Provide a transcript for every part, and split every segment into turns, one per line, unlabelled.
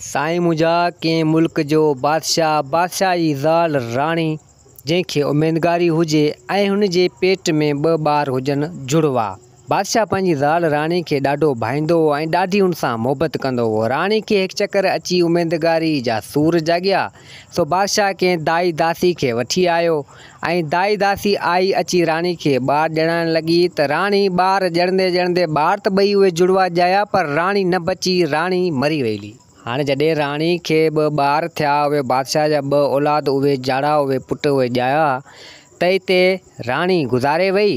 سائين منهنجا ڪنهن ملڪ جو بادشاهه، بادشاهه جي زال راڻي، جنهن کي اميدگاري هجي ۽ هن جي پيٽ ۾ ٻه ٻار هجن جڙوا. بادشاهه پنهنجي زال راڻي کي ڏاڍو ڀائيندو هو ۽ ڏاڍي هن سان محبت ڪندو هو. راڻي کي هڪ چڪر اچي اميدگاري جا سور جاڳيا، سو بادشاهه ڪنهن دائي داسي کي وٺي آيو. ۽ دائي داسي آئي اچي راڻي کي ٻار ڄڻائڻ لڳي ته راڻي ٻار ڄڻندي ڄڻندي ٻار ته ٻئي اهي جڙوا ڄايا پر راڻي نه بچي راڻي مري ويلي. هاڻي جڏهن راڻي کي ٻه ٻار ٿيا اهي بادشاهه جا ٻه اولاد اهي جاڙا اهي پٽ اهي ڄايا ته اتي راڻي گذاري وئي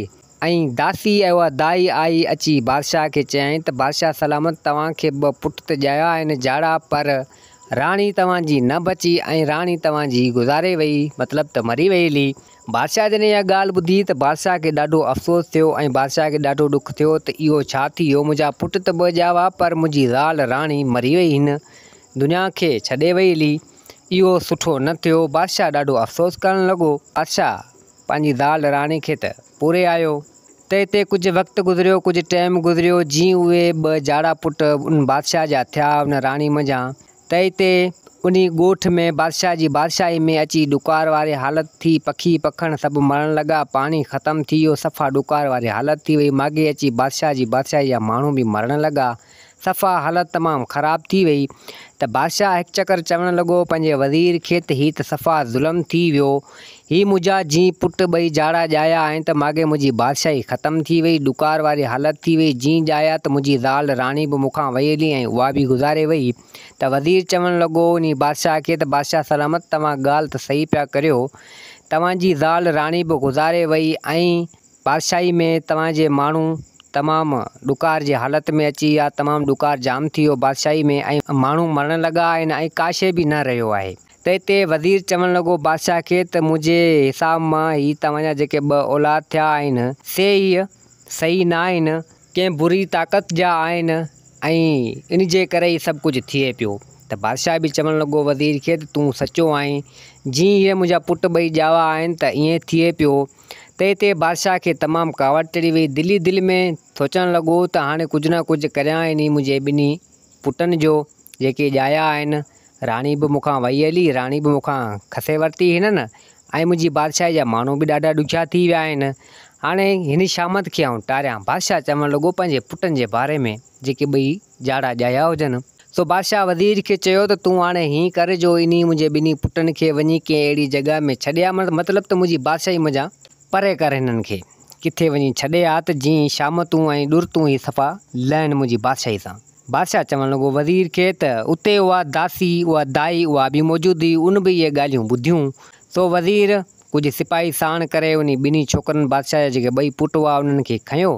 ۽ داسي اها دائي آئي اچي بادشاهه کي چيائين ته بادشاهه سلامت توهان کي ٻه پٽ ته ڄايا آهن جاڙا پر راڻي توهان جي نه بچي ۽ راڻي توهان جي گذاري وئي مطلب ته مري وئي لي. بادشاهه جڏهن اها ڳالهه ٻڌي ته بادشاهه کي ڏاڍو افسوس ٿيو ۽ بادشاهه کي ڏاڍو ڏک ٿيو ته اهو ڇا ٿي ويو منهنجا پٽ ته ٻه ڄاوا پر منهنجي زال راڻي مري وئي هن دنيا کي ڇڏي وئي لي اهو سٺو نه ٿيو بادشاهه ڏاڍو افسوس ڪرڻ لڳو بادشاهه پنهنجي زال راڻي کي ته پوري آيو. ته اتي ڪجهه وقت گذريو، ڪجهه ٽيم گذريو، جيئن اهي ٻه جاڙا پٽ ان بادشاهه جا ٿيا ان راڻي منجهان، ته اتي انهي ڳوٺ ۾ بادشاهه جي بادشاهي ۾ اچي ڏڪار واري حالت ٿي، پکي پکڻ سڀ مرڻ لڳا، پاڻي ختم ٿي ويو، صفا ڏڪار واري حالت ٿي وئي، ماڳهين اچي بادشاهه جي بادشاهي جا ماڻهو به مرڻ لڳا. صفا حالت تمام خراب ٿي وئي ته بادشاهه هڪ چڪر چوڻ لڳو پنهنجي وزير کي ته هي ته صفا ظلم ٿي ويو. هي منهنجا جي پٽ ٻئي جاڙا ڄايا آهن ته ماڳهين منهنجي بادشاهي ختم ٿي وئي، ڏڪار واري حالت ٿي وئي، جي ڄايا ته منهنجي زال راڻي به مون کان وئي هلي ۽ اها به گذاري وئي ته وزير چوڻ لڳو انهي بادشاهه کي ته بادشاهه سلامت توهان ڳالهه ته صحيح پيا ڪريو توهان جي زال راڻي به گذاري وئي ۽ بادشاهي ۾ توهان جي ماڻهو تمام ڏڪار جي حالت ۾ اچي ويا، تمام ڏڪار جام ٿي ويو بادشاهي ۾ ۽ ماڻهو مرڻ لڳا آهن ۽ ڪا شيء به نه رهيو آهي. تنهن تي وزير چوڻ لڳو بادشاهه کي ته منهنجي حساب مان هي توهان جا جيڪي ٻه اولاد ٿيا آهن سي ئي صحيح نه آهن، ڪنهن بري طاقت جا آهن ۽ ان جي ڪري هي سڀ ڪجهه ٿئي پيو ته بادشاهه به چوڻ لڳو وزير کي ته تون سچو آهين، جيئن هي منهنجا پٽ ٻئي ڄاوا آهن ته ائين ٿئي پيو. تي تي بادشاهه کي تمام ڪاوڙ چڙهي وئي. دل ئي دل ۾ سوچڻ لڳو ته هاڻي ڪجهه نه ڪجهه ڪريان انهي منهنجي ٻنهي پٽن جو، جيڪي ڄايا آهن. راڻي به مون کان وئي هلي، راڻي به مون کان کسي ورتي هنن ۽ منهنجي بادشاهي جا ماڻهو به ڏاڍا ڏکيا ٿي ويا آهن. هاڻي هن شامت کي آئون ٽاريان. بادشاهه چوڻ لڳو پنهنجي پٽن جي باري ۾ جيڪي ٻئي جاڙا ڄايا هجن. سو بادشاهه وزير کي چيو ته تون هاڻي هيئن ڪر جو انهي منهنجي ٻنهي پٽن کي وڃي ڪنهن اهڙي جڳهه ۾ ڇڏي آ، مطلب ته منهنجي بادشاهي منجهان پري ڪر هنن کي ڪٿي وڃي ڇڏي آ ته جيئن شامتون ۽ ڏرتون هي صفا لهن منهنجي بادشاهي سان. بادشاهه چوڻ لڳو وزير کي ته اتي اها داسي، اها دائي، اها به موجود هئي، ان به اهي ڳالهيون ٻڌيون. سو وزير. ڪجهه سپاهي ساڻ ڪري انهي ٻنهي ڇوڪرن بادشاهه جا جيڪي ٻئي پٽ هئا انهن کي کنيو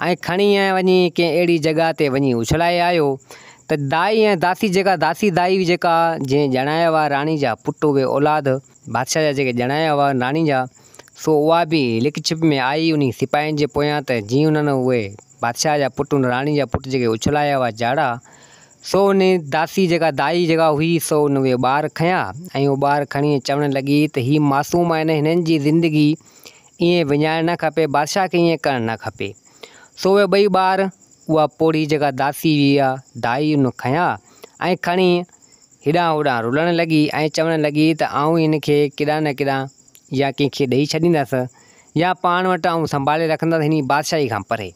۽ کڻي ۽ وڃي ڪنهن اهڙي جڳهه تي وڃي اڇلائي آيو ته دائي ۽ داسي جيڪا داسي دائي هئي جيڪا جنهن ڄڻايا هئا راڻي جا پٽ اهي اولاد بادشاهه جا جيڪي ڄڻايا هئا راڻي جا سو اها به لڪ ڇپ ۾ آئي انهي سپاهين جي پويان ته جي انهن اهي بادشاهه جا پٽ ان راڻي جا پٽ جيڪي اڇلايا هئا جاڙا سو ان داسي جيڪا دائي جيڪا هئي سو ان اهي ٻار کنيا ۽ اهي ٻار کڻي چوڻ لڳي ته هي معصوم آهن هنن جي زندگي ائين وڃائڻ نه کپي بادشاهه کي ائين ڪرڻ نه کپي سو اهي ٻئي ٻار اها پوڙهي جيڪا داسي هئي اها دائي ان کنيا ۽ کڻي هيڏانهن هوڏانهن رلڻ لڳي ۽ چوڻ لڳي ته آئون هن کي ڪيڏانهن نه ڪيڏانهن يا ڪنهن کي ڏئي ڇڏيندس يا پاڻ وٽ آئون سنڀالي رکندس هن جي بادشاهي کان پري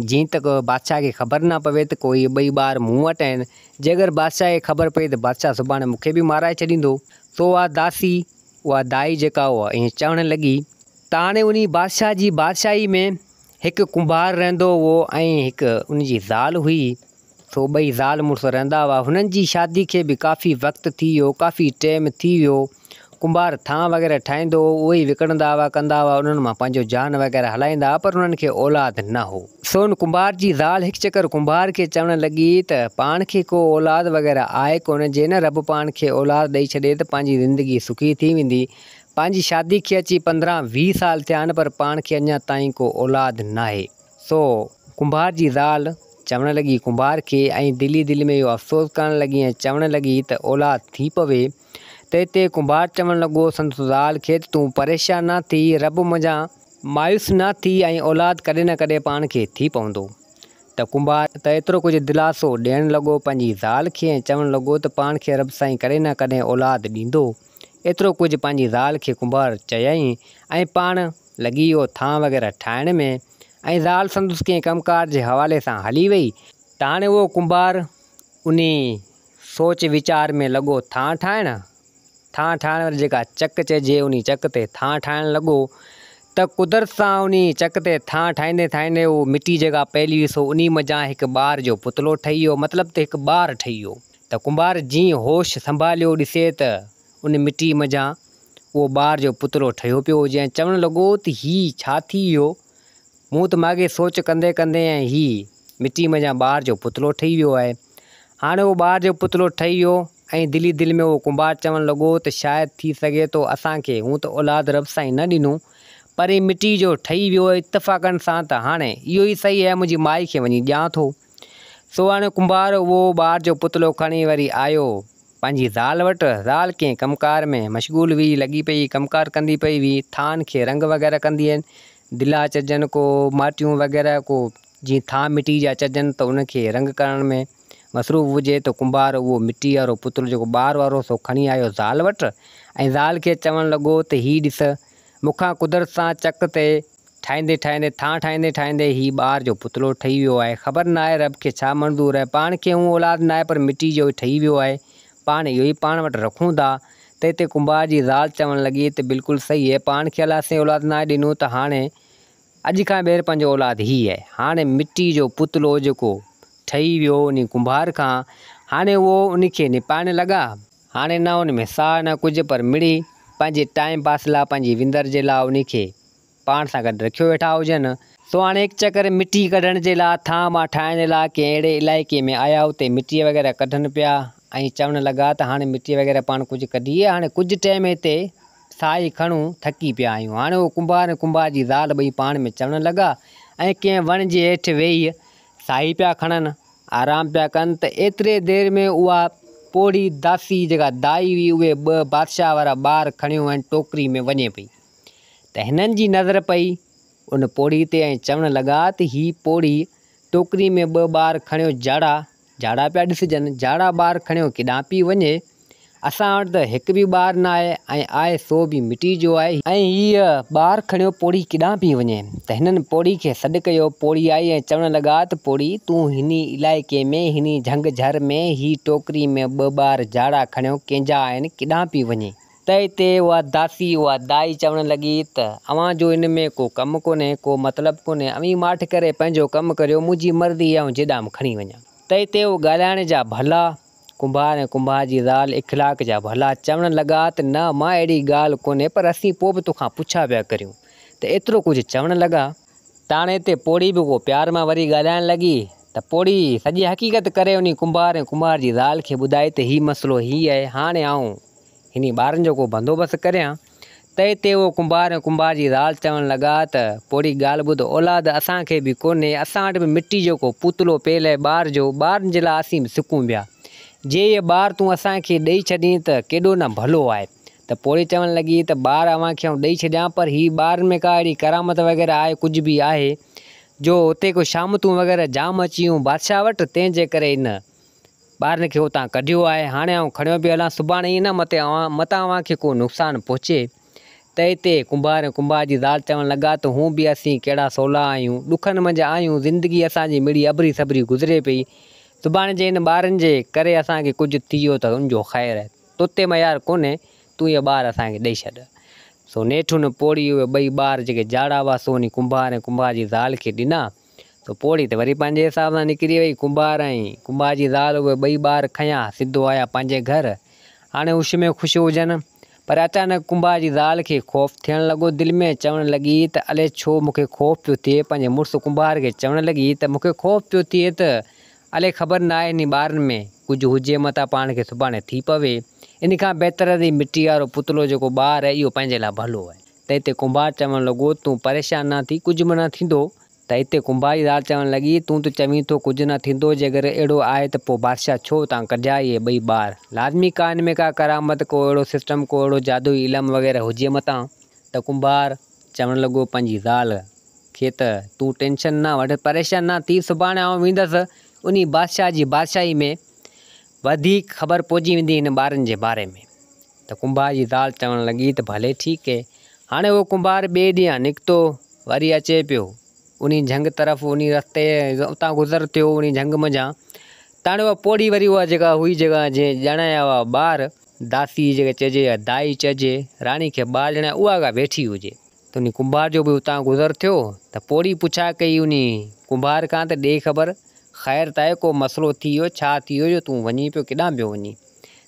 جيئن ته بادشاهه کي خبر نه پوي ته ڪو اهي ٻئي ٻار مون وٽ آهن. جي اگر بادشاهه کي خبر پئي ته بادشاهه سڀاڻي مون کي به مارائي ڇڏيندو. سو اها داسي، اها دائي جيڪا هئا، ائين چوڻ لڳي ته هاڻي انهي بادشاهه جي بادشاهي ۾ هڪ ڪنڀار رهندو هئو ۽ هڪ ان جي زال هئي. سو ٻئي زال مڙس رهندا هئا. هنن جي شادي کي به ڪافي وقت ٿي ويو، ڪافي ٽيم ٿي ويو. ڪنڀار ٿانء وغيره ٺاهيندو هو، اهي ئي وڪڻندا هئا، ڪندا هئا، انهن مان پنهنجو جهان وغيره هلائيندا هئا، پر انهن کي اولاد نه هو. سو ان ڪنڀار جي زال هڪ چڪر ڪنڀار کي چوڻ لڳي ته پاڻ کي ڪو اولاد وغيره آهي ڪونه، جي نه رب پاڻ کي اولاد ڏئي ڇڏي ته پنهنجي زندگي سکي ٿي ويندي. پنهنجي شادي کي اچي پندرهن ويهه سال ٿيا آهن، پر پاڻ کي اڃا تائين ڪو اولاد ناهي. سو ڪنڀار جي زال چوڻ لڳي ڪنڀار کي ۽ دل ئي دل ۾ اهو افسوس ڪرڻ لڳي ۽ چوڻ لڳي ته اولاد ٿي پوي تنهن تي ڪنڀار چوڻ لڳو سندس زال کي ته تون پريشان نه ٿي رب منهنجان مايوس نه ٿي ۽ اولاد ڪڏهن نه ڪڏهن پاڻ کي ٿي پوندو ته ڪنڀار ته ايترو ڪجهه دلاسو ڏيڻ لڳو پنهنجي زال کي ۽ چوڻ لڳو ته پاڻ کي رب سائين ڪڏهن نه ڪڏهن اولاد ڏيندو ايترو ڪجهه پنهنجي زال کي ڪنڀار چيائين ۽ پاڻ لڳي اهو ٿانء وغيره ٺاهڻ ۾ ۽ زال سندس ڪنهن ڪم ڪار جي حوالي سان هلي وئي ته هاڻي اهو ڪنڀار انهي سوچ ويچار ۾ لڳو ٿانء ٺاهڻ. ٿانء ٺاهڻ وٽ جيڪا چڪ چئجي انهي چڪ تي ٿانء ٺاهڻ لڳو ته قدرت سان انهي چڪ تي ٿانء ٺاهيندي ٺاهيندي اهو مٽي جيڪا پيلي هئي سو انهي منجهان هڪ ٻار جو پتلو ٺهي ويو مطلب ته هڪ ٻار ٺهي ويو ته ڪنڀار جيئن هوش سنڀاليو ڏسي ته ان مٽيء منجهان اهو ٻار جو پترو ٺهيو پيو هجي ۽ چوڻ لڳو ته هي ڇا ٿي ويو؟ مون ته ماڳهين سوچ ڪندي ڪندي ۽ هي مٽيء منجهان ٻار جو پترو ٺهي ويو آهي. هاڻي اهو ٻار جو پترو ٺهي ويو ۽ دل ئي دل ۾ اهو ڪنڀار چوڻ لڳو ته شايد ٿي سگهي ٿو اسان کي هون ته اولاد رب سائين نه ڏنو پر هي مٽيء جو ٺهي ويو اتفاقاً سان ته هاڻي اهو ئي صحيح آهي منهنجي مائي کي وڃي ڏيان ٿو. سو هاڻي ڪنڀار اهو ٻار جو پترو کڻي وري آيو پنهنجي زال وٽ، زال ڪنهن ڪم ڪار ۾ مشغول هئي، لڳي پئي ڪم ڪار ڪندي پئي هئي، ٿانء کي رنگ وغيره ڪندي هئي، دلا چجن ڪو ماٽيون وغيره ڪو جيئن ٿانء مٽي جا چجن ته ان کي رنگ ڪرڻ ۾ مصروف هجي ته ڪنڀار اهو مٽي وارو پتلو جيڪو ٻار وارو سو کڻي آيو زال وٽ ۽ زال کي چوڻ لڳو ته هي ڏس مون کان قدرت سان چڪ تي ٺاهيندي ٺاهيندي ٿانء ٺاهيندي ٺاهيندي هي ٻار جو پتلو ٺهي ويو آهي. خبر ناهي رب کي ڇا منظور آهي. پاڻ کي اهو اولاد ناهي پر مٽي جو ئي ٺهي ويو آهي. پاڻ اهو ئي پاڻ وٽ رکون ٿا. ته اتي ڪنڀار جي زال چوڻ لڳي ته بلڪل صحيح هي. پاڻ کي الله سائين اولاد ناهي ڏنو ته هاڻي اڄ کان ٻيهر پنهنجو اولاد هي آهي. هاڻي مٽي جو پتلو جيڪو ٺهي ويو انهي ڪنڀار کان هاڻي اهو ان کي نپائڻ لڳا. هاڻي نه ان ۾ ساهه نه ڪجهه پر مڙئي پنهنجي ٽائيم پاس لا پنهنجي وندر جي لا انهي کي پاڻ سان گڏ رکيو ويٺا هجن. سو هاڻي هڪ چڪر مٽي ڪڍڻ جي لاء ٿانء مان ٺاهڻ لاء ڪنهن اهڙي علائقي ۾ آيا اتي مٽي وغيره ڪڍن پيا ۽ چوڻ لڳا ته هاڻي مٽي وغيره پاڻ ڪجهه ڪڍي هاڻي ڪجهه ٽيم هتي ساهي کڻون ٿڪي پيا آهيون هاڻي اهو ڪنڀار ۽ ڪنڀار جي زال ٻئي پاڻ ۾ چوڻ لڳا ۽ ڪنهن وڻ جي هيٺ ويهي ساهي پيا کڻن آرام پيا ڪن ته ايتري دير ۾ اها پوڙهي داسي جيڪا دائي هئي اهي ٻه بادشاهه وارا ٻار کڻيو ۽ ٽوڪري ۾ وڃي پئي. ته هنن جي نظر پئي ان پوڙهي تي ۽ چوڻ لڳا ته هي پوڙهي ٽوڪري ۾ ٻه ٻار کڻيو جاڙا جاڙا پيا ڏسجن، جاڙا ٻار کڻيو ڪيڏانهن پئي وڃي، اسان وٽ ته هڪ به ٻار نه آهي ۽ آهي سو به مٽي جو آهي، ۽ هيء ٻار کڻيو پوڙهي ڪيڏانهن پئي وڃي، ته هنن پوڙهي کي سڏ ڪيو، پوڙهي آئي ۽ چوڻ لڳا ته پوڙهي تون هني علائقي ۾ هني جهنگ جهر ۾ هي ٽوڪري ۾ ٻه ٻار جاڙا کڻيو ڪينجا آهن ڪيڏانهن پئي وڃين؟ تنهن تي اها داسي، اها دائي چوڻ لڳي ته، اوهان جو ان ۾ ڪو ڪم ڪونهي، ڪو مطلب ڪونهي، اوهين ماٺ ڪري پنهنجو ڪم ڪريو، منهنجي مرضي آهي آئون جيڏانهن به کڻي وڃان. تنهن تي اهو ڳالهائڻ جا ڀلا، ڪنڀار ۽ ڪنڀار جي زال اخلاق جا ڀلا، چوڻ لڳا ته نه مان اهڙي ڳالهه ڪونهي پر اسين پوء به تو کان پڇا پيا ڪريون ته ايترو ڪجهه چوڻ لڳا. تانئن تي پوڙهي به ڪو پيار مان وري ڳالهائڻ لڳي ته پوڙهي سڄي حقيقت ڪري انهي ڪنڀار ۽ ڪنڀار جي زال کي ٻڌائي ته هي مسئلو هي آهي، هاڻي آئون هني ٻارن جو ڪو بندوبست ڪريان. تئي تي اهو ڪنڀار ۽ ڪنڀار جي زال چوڻ لڳا ته، پوڙهي ڳالهه ٻڌ اولاد اسان کي به ڪونهي، اسان وٽ به مٽي جو ڪو پوتلو پيل اهي ٻار جو، ٻارن جي لاء اسين به سڪون پيا. جي اهي ٻار تون اسان کي ڏئي ڇڏين ته ڪيڏو نه ڀلو آهي. ته پوڙهي چوڻ لڳي ته ٻار اوهان کي آئون ڏئي ڇڏيان پر هي ٻارن ۾ ڪا اهڙي ڪرامت وغيره آهي ڪجهه به آهي جو هتي ڪو شامتون وغيره جام اچي ويون بادشاهه وٽ تنهن جي ڪري ان ٻارن کي اتان ڪڍيو آهي هاڻي آئون کڻيو به هلان سڀاڻي ائين نه متي اوهان متان اوهان کي ڪو نقصان پهچي تئي تي ڪنڀار ۽ ڪنڀار جي زال چوڻ لڳا ته هون به اسين ڪهڙا سولا آهيون ڏکن منجهه آهيون زندگي اسان جي مڙئي اڀري سڀري گذري پئي سڀاڻي جي هن ٻارن جي ڪري اسان کي ڪجهه ٿي ويو ته ان جو خير توتي ميار ڪونهي تون اهي ٻار اسان کي ڏئي ڇڏ سو نيٺ هن پوڙهي اهي ٻئي ٻار جيڪي جاڙا هئا سو وڃي ڪنڀار ۽ ڪنڀار جي زال کي ڏنا سو پوڙهي ته وري پنهنجي حساب سان نڪري وئي. ڪنڀار ۽ ڪنڀار جي زال اهي ٻئي ٻار کنيا سڌو آيا پنهنجي گهر. هاڻي هوش ۾ خوش هجن. پر اچانڪ ڪنڀار جي زال کي خوف ٿيڻ لڳو. دل ۾ چوڻ لڳي ته الئي ڇو مون کي خوف پيو ٿئي. پنهنجي مڙس ڪنڀار کي چوڻ لڳي ته مون کي خوف پيو ٿئي ته الئي خبر ناهي انهي ٻارن ۾ ڪجهه هجي متان پاڻ کي سڀاڻي ٿي پوي. ان کان بهتر ته هي مٽي وارو پتلو جيڪو ٻار اهو پنهنجي لاء ڀلو آهي. تنهن تي ڪنڀار چوڻ لڳو، تون پريشان نه ٿي، ڪجهه به نه ٿيندو. تنهن تي ڪنڀار جي زال چوڻ لڳي، تون ته چوين ٿو ڪجهه نه ٿيندو، جي اگر اهڙو آهي ته پوء بادشاهه ڇو اتان ڪڍيا اهي ٻئي ٻار؟ لازمي ڪا ان ۾ ڪا ڪرامت، ڪو اهڙو سسٽم، ڪو اهڙو جادوئي علم وغيره هجي متان. ته ڪنڀار چوڻ لڳو پنهنجي زال کي ته، تون ٽينشن نه وٺ، پريشان نه ٿي، سڀاڻي آئون ويندس انهي بادشاهه جي بادشاهي ۾، وڌيڪ خبر پئجي ويندي هن ٻارن جي باري ۾ ته ڪنڀار جي زال چوڻ لڳي ته ڀلي ٺيڪ هاڻي اهو ڪنڀار ٻئي ڏينهن نڪتو وري اچي پيو انهي جهنگ طرف انهي رستي اتان گذر ٿيو انهي جهنگ منجهان ته هاڻي اها پوڙهي وري اها جيڪا هئي جيڪا جنهن ڄڻايا هئا ٻار داسي جيڪا چئجي يا دائي چئجي راڻي کي ٻار ڄڻايا اها ڪا ويٺي هجي. ته انهي ڪنڀار جو به اتان گذر ٿيو ته پوڙهي پڇا ڪئي انهي ڪنڀار کان ته ڏي خبر خير ته آهي ڪو مسئلو ٿي ويو ڇا ٿي ويو جو تون وڃين پيو ڪيڏانهن پيو وڃين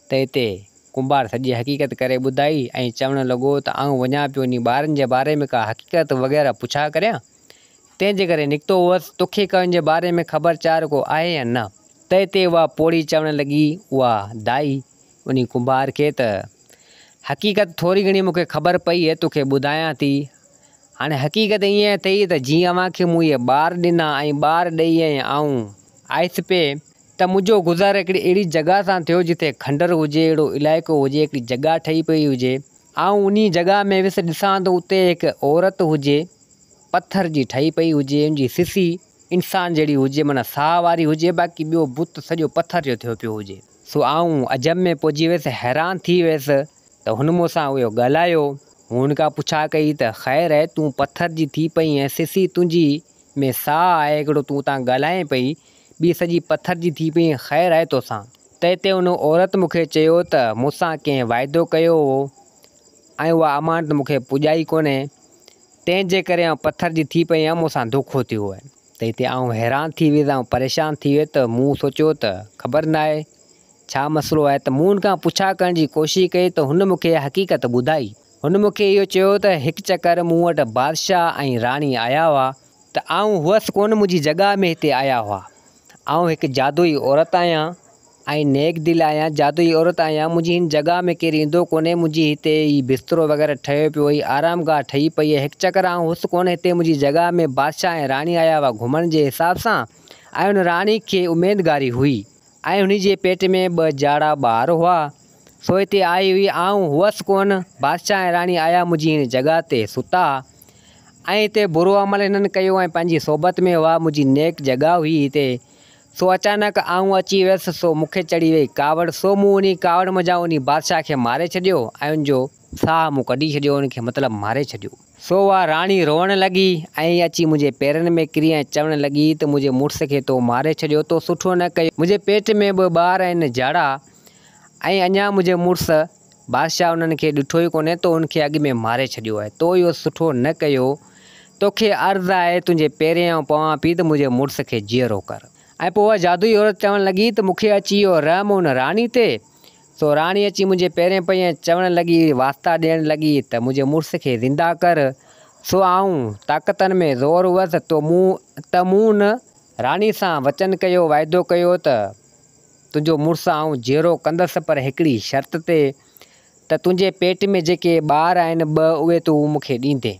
ته اتي ڪنڀار سڄي حقيقت ڪري ٻڌائي ۽ چوڻ لڳو ته آئون وڃان پيو انهي ٻارن جي باري ۾ ڪا حقيقت وغيره پڇا ڪريان تنهن جي ڪري نڪتو هوس توکي ڪن جي باري ۾ خبر چار ڪو آهي يا نه ته اتي اها پوڙهي چوڻ لڳي اها دائي انهي ڪنڀار کي ته حقيقت ٿوري گهڻي مون کي خبر پئي هي توکي ٻڌايان ٿي. هاڻي حقيقت ائين اٿئي ته جي اوهان کي مون اهي ٻار ڏنا ۽ ٻار ڏئي ۽ آئون آيس پئي ته منهنجو گذر هڪڙي اهڙي جڳهه سان ٿيو جتي کنڊر هجي اهڙو علائقو هجي هڪڙي جڳهه ٺهي پئي هجي آئون انهي جڳهه ۾ ويس ڏسان ته اتي هڪ عورت هجي پٿر جي ٺهي پئي هجي ان جي سسي انسان جهڙي هجي معنيٰ ساهه واري هجي باقي ٻيو بت سڄو پٿر جو ٿيو پيو هجي. سو آئون عجم ۾ پهچي ويس. حيران ٿي ويس ته هن مون سان اهو ڳالهايو. مون هن کان پڇا ڪئي ته خير آهي تون پٿر جي ٿي پئين ۽ سسي تنهنجي ۾ ساهه آهي هڪڙو تون اتان ڳالهائين پئي ٻي سڄي پٿر جي ٿي پئين خير آهي توسان. تنهن تي ان عورت مون کي چيو ته مون سان ڪنهن واعدو ڪيو هو ۽ اها امانت مون کي پڄائي ڪونهي تنهن جي ڪري آئون پٿر جي ٿي پئي آهيان مون سان دوکو ٿيو آهي. ته هتي آئون حيران ٿي ويس ۽ پريشان ٿي ويس ته مون سوچيو ته خبر ناهي ڇا مسئلو آهي ته مون هن کان پڇا ڪرڻ جي ڪوشش ڪئي ته هن مون کي حقيقت ٻڌائي. هن مون کي اهو چيو ته هڪ چڪر مون وٽ بادشاهه ۽ راڻي آيا هئا ته آئون هئس ڪونه منهنجي جڳهه ۾ هتي آيا هئا. آئون هڪ جادوئي عورت آهيان آئين نيڪ دل آهيان، جادوئي عورت آهيان، منهنجي هن جڳهه ۾ ڪير ايندو ڪونهي، منهنجي هتي هي بسترو وغيره ٺهيو پيو هي آرام گاهه ٺهي پئي آهي، هڪ چڪر آئون هوس ڪونه هتي منهنجي جڳهه ۾ بادشاهه ۽ راڻي آيا هئا گهمڻ جي حساب سان ۽ ان راڻي کي اميدگاري هئي ۽ انهي جي پيٽ ۾ ٻه جاڙا ٻار هئا سو هتي آئي هئي آئون هوس ڪونه بادشاهه ۽ راڻي آيا منهنجي هن جڳهه تي ستا ۽ هتي برو عمل هنن ڪيو ۽ پنهنجي صحبت ۾ هئا منهنجي نيڪ جڳهه هئي هتي سو اچانڪ آئون اچي ويس، سو مون کي چڙهي ويئي ڪاوڙ، سو مون انهي ڪاوڙ منجهان انهي بادشاهه کي ماري ڇڏيو، ۽ ان جو ساهه مون ڪڍي ڇڏيو، ان کي مطلب ماري ڇڏيو. سو اها راڻي روئڻ لڳي، ۽ اچي منهنجي پيرن ۾ ڪري ۽ چوڻ لڳي ته منهنجي مڙس کي تو ماري ڇڏيو، تو سٺو نه ڪيو، منهنجي پيٽ ۾ ٻه ٻار آهن جاڙا، ۽ اڃا منهنجي مڙس بادشاهه انهن کي ڏٺو ئي ڪونهي، تو ان کي اڳ ۾ ماري ڇڏيو آهي. تو اهو سٺو نه ڪيو. توکي عرض آهي، تنهنجي پيرين آئون پوان پئي ته منهنجي مڙس کي جيئرو ڪر. ۽ پوء اها جادوئي عورت چوڻ لڳي ته مون کي اچي اهو رحم هو ان راڻي تي. سو راڻي اچي منهنجي پيرين پئي ۽ چوڻ لڳي، واسطا ڏيڻ لڳي ته منهنجي مڙس کي زنده ڪر. سو آئون طاقتن ۾ زور هئس، تو مون ته مون ان. راڻي سان وچن ڪيو، واعدو ڪيو ته. تنهنجو مڙس آئون جيئرو ڪندس پر هڪڙي شرط تي ته تنهنجي پيٽ ۾ جيڪي ٻار آهن ٻه اهي تون مون کي ڏيندين.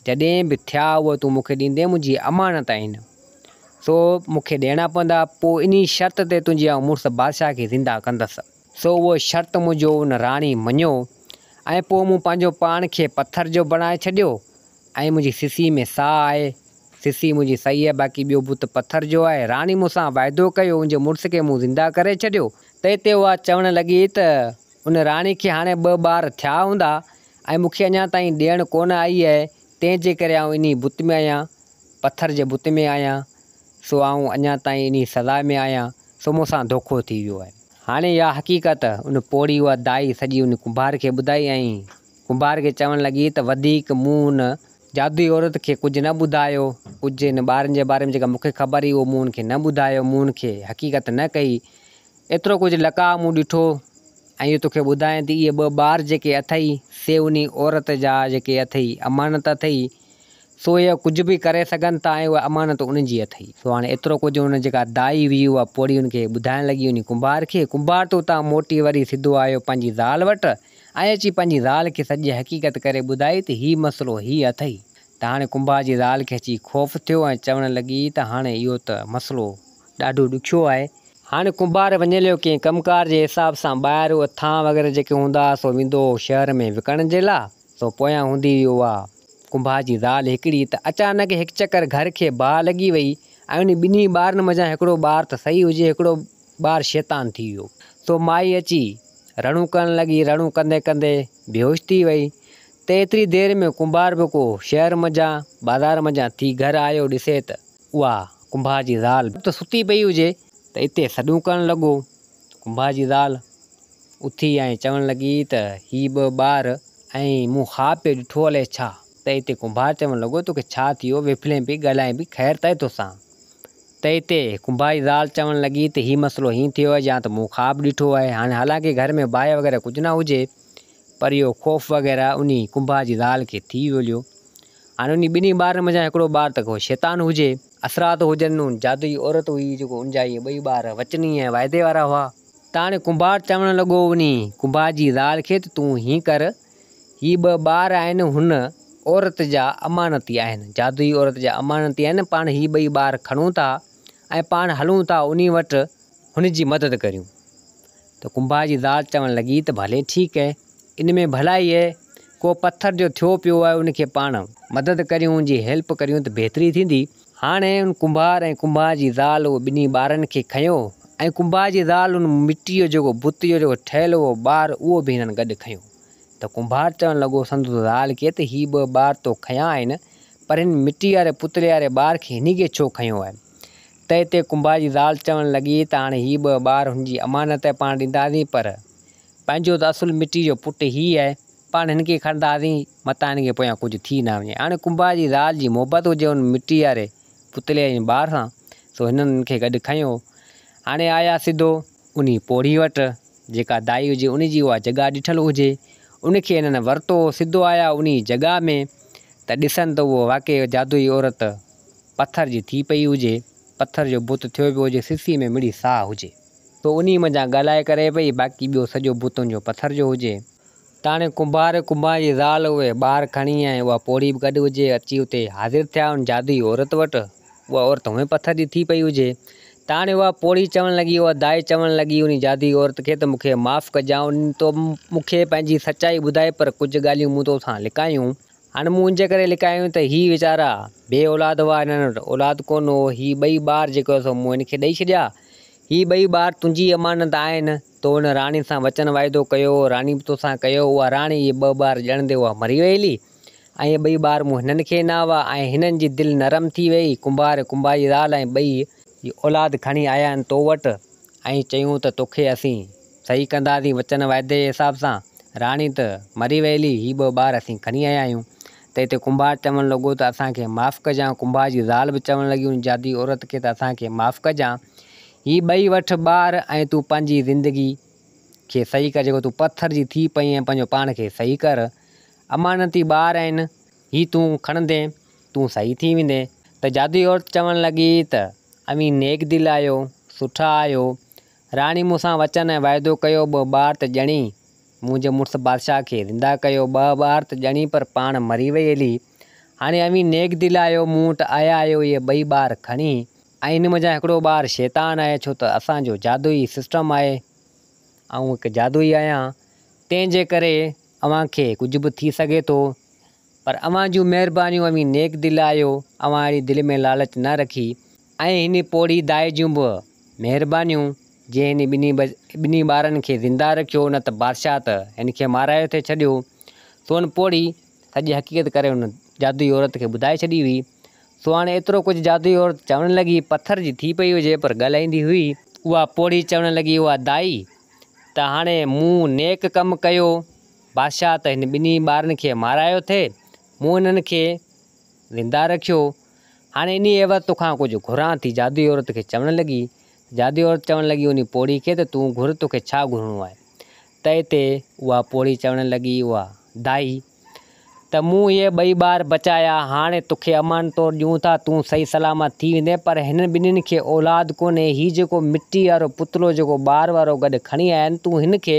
جڏهن به ٿيا اهي تون مون کي ڏيندين منهنجي اماڻت آهن سو مون کي ڏيڻا پوندا پوء انهي شرط تي تنهنجي آئون مڙس بادشاهه کي زنده ڪندس. سو اهو شرط منهنجو ان راڻي مڃيو ۽ پوء مون پنهنجو پاڻ کي پٿر جو بڻائي ڇڏيو ۽ منهنجي سسي ۾ ساهه آهي. سسي منهنجي سهي آهي، باقي ٻيو بت پٿر جو آهي. راڻي مون سان واعدو ڪيو، ان جي مڙس کي مون زنده ڪري ڇڏيو. تنهن تي اها چوڻ لڳي ته ان راڻي کي هاڻي ٻه ٻار ٿيا هوندا ۽ مون کي اڃا تائين ڏيڻ ڪونه آئي آهي، تنهن جي ڪري آئون انهي بت ۾ آهيان، پٿر جي بت ۾ آهيان، سو آئون اڃا تائين انهي سزا ۾ آهيان، سو مون سان ڌوکو ٿي ويو آهي. هاڻي اها حقيقت ان پوڙهي اها دائي سڄي ان ڪنڀار کي ٻڌائي ۽ ڪنڀار کي چوڻ لڳي ته وڌيڪ مون ان جادوئي عورت کي ڪجهه نه ٻڌايو، ڪجهه ان ٻارن جي باري ۾ جيڪا مون کي خبر هئي اهو مون ان کي نه ٻڌايو، مون ان کي حقيقت نه ڪهي. ايترو ڪجهه لڪاء مون ڏٺو ۽ اهو توکي ٻڌايان ته اهي ٻه ٻار جيڪي اٿئي سي انهي عورت جا جيڪي اٿئي امانت اٿئي، سو اهي ڪجهه به ڪري سگهن ٿا ۽ اها امانت انهن جي اٿئي. سو هاڻي ايترو ڪجهه ان جيڪا دائي هئي اها پوڙهي ان کي ٻڌائڻ لڳي انهي ڪنڀار کي. ڪنڀار ته اتان موٽي وري سڌو آيو پنهنجي زال وٽ ۽ ۽ اچي پنهنجي زال کي سڄي حقيقت ڪري ٻڌائي ته هي مسئلو هي اٿئي ته هاڻي ڪنڀا جي زال کي اچي خوف ٿيو ۽ چوڻ لڳي ته هاڻي اهو ته مسئلو ڏاڍو ڏکيو آهي، هاڻي ڪنڀار وڃي ليو ڪنهن ڪم ڪار جي حساب سان ٻاهر اهي ٿانء وغيره جيڪي هوندا ها سو ويندو هو شهر ۾ وڪڻڻ جي لا سو پويان هوندي هئي اها ڪنڀا جي زال هڪڙي ته اچانڪ هڪ چڪر گهر کي باهه لڳي وئي ۽ انهي ٻنهي ٻارن منجهان هڪڙو ٻار ته سهي هجي هڪڙو ٻار شيطان ٿي ويو. سو مائي اچي رڙون ڪرڻ لڳي، رڙون ڪندي ڪندي بيهوش ٿي وئي ته ايتري دير ۾ ڪنڀار به ڪو شهر منجهان بازار منجهان ٿي گهر آيو ڏسي ته اها ڪنڀار جي زال به ستي پئي هجي. ته اتي سڏون ڪرڻ لڳو. ڪنڀار جي زال اٿي ۽ چوڻ لڳي ته هي ٻه ٻار ۽ مون خواب پئي ڏٺو الئي ڇا؟ ته اتي ڪنڀار چوڻ لڳو توکي ڇا ٿي ويو ويڦلين پئي ڳالهائين به خير تئه توسان تئي تي ڪنڀا جي زال چوڻ لڳي ته هي مسئلو هين ٿيو آهي جيان ته مون خواب ڏٺو آهي. هاڻي حالانڪه گهر ۾ باهه وغيره ڪجهه نه هجي پر اهو خوف وغيره انهي ڪنڀا جي زال کي ٿي وليو. هاڻي انهي ٻنهي ٻارن منجهان هڪڙو ٻار ته ڪو شيطان هجي. اسرا ته هجن ان جادوئي عورت هئي جيڪو ان جا اهي ٻئي ٻار وچني ۽ وعدي وارا هئا. ته هاڻي ڪنڀار چوڻ لڳو انهي ڪنڀا جي زال کي ته تون هين ڪر هي ٻه ٻار آهن هن عورت جا امانتي آهن. جادوئي عورت جا امانتي آهن پاڻ هي ٻئي ٻار کڻون ٿا ۽ پاڻ هلون ٿا انهي وٽ هن جي مدد ڪريون ته ڪنڀار جي زال چوڻ لڳي ته ڀلي ٺيڪ هي ان ۾ ڀلائي هي ڪو پٿر جو ٿيو پيو آهي ان کي پاڻ مدد ڪريون ان جي هيلپ ڪريون ته بهتري ٿيندي. هاڻي ان ڪنڀار ۽ ڪنڀار جي زال اهي ٻنهي ٻارن کي کنيو ۽ ڪنڀار جي زال ان مٽيء جو جيڪو بت جو جيڪو ٺهيل هو ٻار اهو به هنن گڏ کنيو ته ڪنڀار چوڻ لڳو سندس زال کي ته هي ٻه ٻار تو کنيا آهن پر هن مٽيء واري پتلي واري ٻار کي هني کي ڇو کنيو آهي تنهن تي ڪنڀار جي زال چوڻ لڳي ته هاڻي هي ٻه ٻار هن جي امانت پاڻ ڏينداسين پر پنهنجو ته اصل مٽيء جو پٽ هي آهي پاڻ هن کي کڻنداسين متان انهيء پويان ڪجهه ٿي نه وڃي. هاڻي ڪنڀار جي زال جي محبت هجي ان مٽيء واري پتلي ۽ ٻار سان، سو هنن ان کي گڏ کنيو هو. هاڻي آيا سڌو انهيء پوڙهي وٽ، جيڪا دائي هجي ان جي اها جڳهه ڏٺل هجي. ان کي هنن ورتو هو. سڌو آيا انهيء جڳهه ۾ ته ڏسن ته اها واقعي جادوئي عورت پٿر جي ٿي پئي هجي. پٿر جو بت ٿيو پيو هجي. سسي ۾ مڙئي ساهه هجي. سو انهيء منجهان ڳالهائي ڪري پئي، باقي ٻيو سڄو بت ان جو پٿر جو هجي. تاڻي ڪنڀار ۽ ڪنڀار جي زال اهي ٻار کڻي ۽ اها پوڙهي به گڏ هجي، اچي اتي حاضر ٿيا ان جادوئي عورت وٽ. اها عورت هونئن پٿر جي ٿي پئي هجي. تاڻي اها پوڙهي چوڻ لڳي، اها دائي چوڻ لڳي انهي جادوئي عورت کي ته مون کي معاف ڪجانء، تو مون کي پنهنجي سچائي ٻڌائي پر ڪجهه ڳالهيون مون تو سان لڪايون. هاڻ مون انجي ڪري لڪايون ته هي ويچارا بي اولاد هئا، هنن وٽ اولاد ڪونه هو، هي ٻئي ٻار جيڪي هئا سو مون هن کي ڏئي ڇڏيا. هي ٻئي ٻار تنهنجي امانت آهن، تو ان راڻي سان وچن واعدو ڪيو هو، راڻي به توسان ڪيو هو، اها راڻي اهي ٻه ٻار ڄڻندي اها مري ويئي هلي، ۽ اهي ٻئي ٻار مون هنن کي ڏنا هئا، ۽ هنن جي دل نرم ٿي ويئي، ڪنڀار، ڪنڀار جي زال ۽ ٻئي، جي اولاد کڻي آيا آهن تو وٽ، ۽ چيون ته توکي اسين صحيح ڪنداسين وچن واعدي جي حساب سان، راڻي ته مري ويئي هلي، هي ٻه ٻار اسين کڻي آيا آهيون، ته هتي ڪنڀار چوڻ لڳو ته اسان کي معاف ڪجان، ڪنڀار جي زال به چوڻ لڳي ان جادوئي عورت کي ته اسان کي معاف ڪجان، هي ٻئي وٺ ٻار ۽ تون پنهنجي زندگي کي صحيح ڪر جيڪو تون پٿر جي ٿي پئين ۽ پنهنجو پاڻ کي صحيح ڪر امانتي ٻار آهن هي تون کڻندين تون صحيح ٿي ويندين. ته جادوئي عورت چوڻ لڳي ته اوهين نيڪ دل آهيو سٺا آهيو راڻي مون سان وچن ۽ وعدو ڪيو ٻه ٻار ته ڄڻي منهنجي مڙس بادشاهه کي زنده ڪيو ٻه ٻار ته ڄڻي پر پاڻ مري وئي هلي هاڻي اوهين نيڪ دل آهيو مون وٽ آيا آهيو اهي ٻئي ٻار کڻي ۽ ان منجهان هڪڙو ٻار شيطان آهي ڇو ته اسان جو جادوئي سسٽم آهي آئون هڪ جادوئي آهيان تنهن جي ڪري اوهان کي ڪجهه به ٿي سگهي ٿو پر اوهان جون مهربانيون اوهين نيڪ دل آهيو اوهان اهڙي دل ۾ لالچ نه رکي ۽ هن پوڙهي دائي جون به مهربانيون جنهن هن ٻنهي ٻنهي ٻارن کي زنده رکيو نه ته بادشاهه ته هن کي مارائي ٿي ڇڏيو سون پوڙهي سڄي حقيقت ڪري ان جادوئي عورت کي ٻڌائي ڇڏي هئي. سهاڻي ايترو ڪجهه جادوئي عورت چوڻ لڳي، پٿر جي ٿي پئي هجي پر ڳالهائيندي هئي. اها پوڙهي چوڻ لڳي، اها دائي ته هاڻي مون نيڪ ڪم ڪيو، بادشاهه ته هن ٻنهي ٻارن کي مارايو ٿي، مون انهن کي زنده رکيو، هاڻي انهي عيوض توکان ڪجهه گهران ٿي جادوئي عورت کي چوڻ لڳي. جادوئي عورت چوڻ لڳي انهي پوڙهي کي ته تون گهر توکي ڇا گهرڻو آهي. تئي تي اها پوڙهي چوڻ لڳي، اها، دائي، ته مون اهي ٻئي ٻار بچايا، هاڻي توکي امان طور ڏيون ٿا، تون صحيح سلامت ٿي ويندين، پر هنن ٻنهين کي اولاد ڪونهي، هي جيڪو مٽي وارو پتلو جيڪو ٻار وارو گڏ کڻي آيا آهن، تون هن کي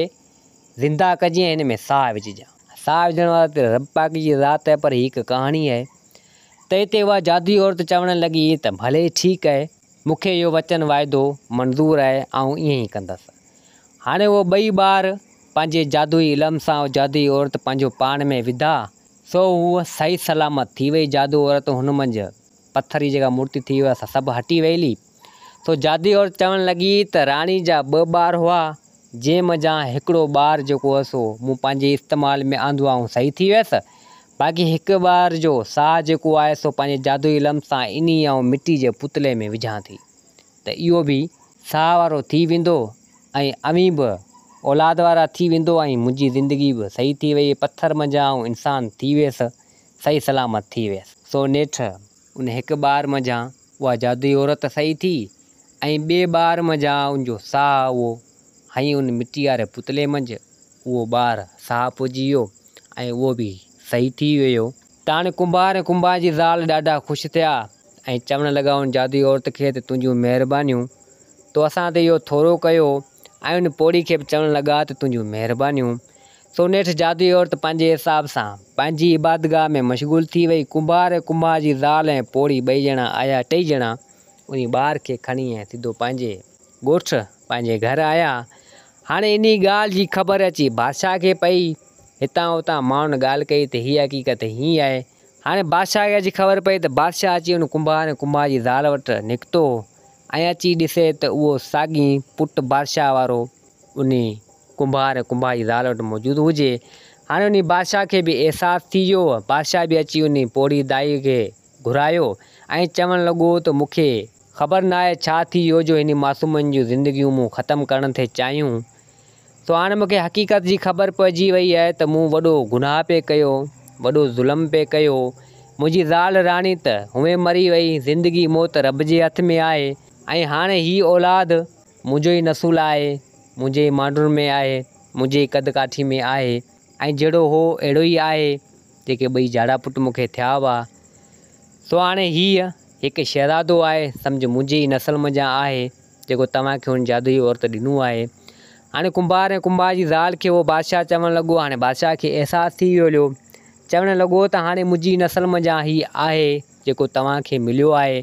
زنده ڪجين ۽ هن ۾ ساهه وجهجان. ساهه وجهڻ وارو ته رب پاڪ جي ذات آهي، پر هي هڪ ڪهاڻي آهي. تئي تي اها جادوئي عورت چوڻ لڳي ته ڀلي ٺيڪ آهي، مون کي اهو وچن، واعدو، منظور آهي، آئون ائين ئي ڪندس. هاڻي اهي ٻئي ٻار پنهنجي جادوئي علم سان اها جادوئي عورت پنهنجو پاڻ ۾ وڌا، سو هوء صحيح سلامت ٿي ويئي. جادوئي عورت هن منجهه پٿر جي جيڪا مورتي ٿي هئي، سا سڀ هٽي ويلي. سو جادوئي عورت چوڻ لڳي ته راڻي جا ٻه ٻار هئا، جنهن منجهان هڪڙو ٻار جيڪو هو سو مون پنهنجي استعمال ۾ آندو آهي، هو صحيح ٿي ويس، باقي هڪ ٻار جو ساهه جيڪو آهي، سو پنهنجي جادوئي علم سان انهيء آئون مٽي جي پتلي ۾ وجهان ٿي. ته اهو به ساهه وارو ٿي ويندو ۽ اوهين به اولاد وارا ٿي ويندو ۽ منهنجي زندگي به صحيح ٿي ويئي، پٿر منجهان آئون انسان ٿي ويس، صحيح سلامت ٿي ويس. سو نيٺ ان هڪ ٻار منجهان اها جادوئي عورت صحيح ٿي ۽ ٻئي ٻار منجهان ان جو ساهه اهو هنئي ان مٽي واري پتلي منجهه اهو ٻار ساهه پئجي ويو ۽ اهو به صحيح ٿي ويو. ته هاڻي ڪنڀار ۽ ڪنڀار جي زال ڏاڍا خوش ٿيا ۽ چوڻ لڳا ان جادوئي عورت کي ته تنهنجون مهربانيون، تو اسان تي اهو ٿورو ڪيو ۽ ان پوڙهي کي به چوڻ لڳا ته تنهنجون مهربانيون. سو نيٺ جادوئي عورت پنهنجي حساب سان پنهنجي عبادگاهه ۾ مشغول ٿي وئي. ڪنڀار ۽ ڪنڀار جي زال ۽ پوڙهي ٻئي ڄڻا آيا ٽئي ڄڻا انهي ٻار کي کڻي ۽ سڌو پنهنجي ڳوٺ، پنهنجي گهر آيا هاڻي انهي ڳالهه جي خبر اچي بادشاهه کي پئي. هتان هتان ماڻهن ڳالهه ڪئي ته هيء حقيقت هينئين آهي. هاڻي بادشاهه کي اچي خبر پئي ته بادشاهه اچي ان ڪنڀار ۽ ڪنڀار جي زال وٽ نڪتو هو ۽ اچي ڏسي ته اهو ساڳين پٽ بادشاهه وارو انهي ڪنڀار ۽ ڪنڀار جي زال وٽ موجود هجي. هاڻي انهي بادشاهه کي به احساس ٿي ويو. بادشاهه به اچي انهي پوڙهي دائيء کي گهرايو ۽ چوڻ لڳو ته مون کي خبر ناهي ڇا ٿي ويو جو هنن معصومن جون زندگيون مون ختم ڪرڻ ٿي چاهيون سو هاڻ مون کي حقيقت جي خبر پئجي وئي آهي ته مون وڏو گناهه پئي ڪيو وڏو ظلم پئي ڪيو منهنجي زال راڻي ته هونئن مري وئي زندگي موت رب جي هٿ ۾ آهي ۽ هاڻي هي اولاد منهنجو ئي نسل آهي منهنجي ئي مانڊون ۾ آهي منهنجي ئي قد ڪاٺي ۾ آهي ۽ جهڙو هو اهڙو ئي آهي. جيڪي ٻئي جاڙا پٽ مون کي ٿيا هئا، سو هاڻي هيء هڪ شهزادو آهي، سمجهه منهنجي ئي نسل منجهان آهي، جيڪو توهان کي هن جادوئي عورت ڏنو آهي. هاڻي ڪنڀار ۽ ڪنڀار جي زال کي اهو بادشاهه چوڻ لڳو. هاڻي بادشاهه کي احساس ٿي ويو هليو، چوڻ لڳو ته هاڻي منهنجي ئي نسل منجهان هيء آهي، جيڪو توهان کي مليو آهي.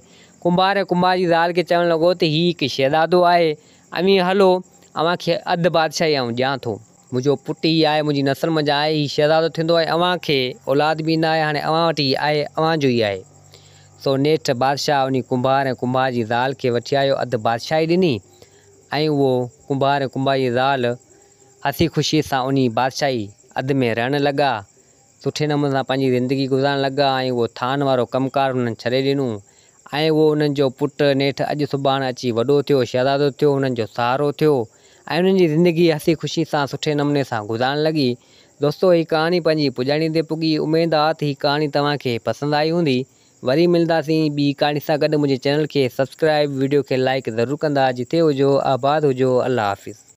ڪنڀار ۽ ڪنڀار جي زال کي چوڻ لڳو ته هيء هڪ شهزادو آهي، اوهين هلو، اوهان کي اڌ بادشاهي آئون ڏيان ٿو. منهنجو پٽ ئي آهي، منهنجي نسل منجهان آهي، هي شهزادو ٿيندو ۽ اوهان کي اولاد به ناهي، هاڻي اوهان وٽ هي آهي، اوهان جو ئي آهي. سو نيٺ بادشاهه انهي ڪنڀار ۽ ڪنڀار جي زال کي وٺي آيو، اڌ بادشاهي ڏني ۽ اهو ڪنڀار ۽ ڪنڀار جي زال هسي خوشيء سان انهي بادشاهي اڌ ۾ رهڻ لڳا، سٺي نموني سان پنهنجي زندگي گذارڻ لڳا ۽ اهو ٿان وارو ڪم ڪار هنن ڇڏي ڏنو ۽ اهو انهن جو پٽ نيٺ اڄ سڀاڻ اچي وڏو ٿيو شهزادو ٿيو انهن جو سهارو ٿيو ۽ انهن جي زندگي هسي خوشي سان سٺي نموني سان گذارڻ لڳي دوستو هي ڪهاڻي پنهنجي پڄاڻي تي پڳي اميد آ ته هي ڪهاڻي توهان کي پسند آئي هوندي وري ملنداسين ٻي ڪهاڻي سان گڏ منهنجي چينل کي سبسڪرائب ويڊيو کي لائيڪ ضرور ڪندا جتي هجو آباد هجو الله حافظ.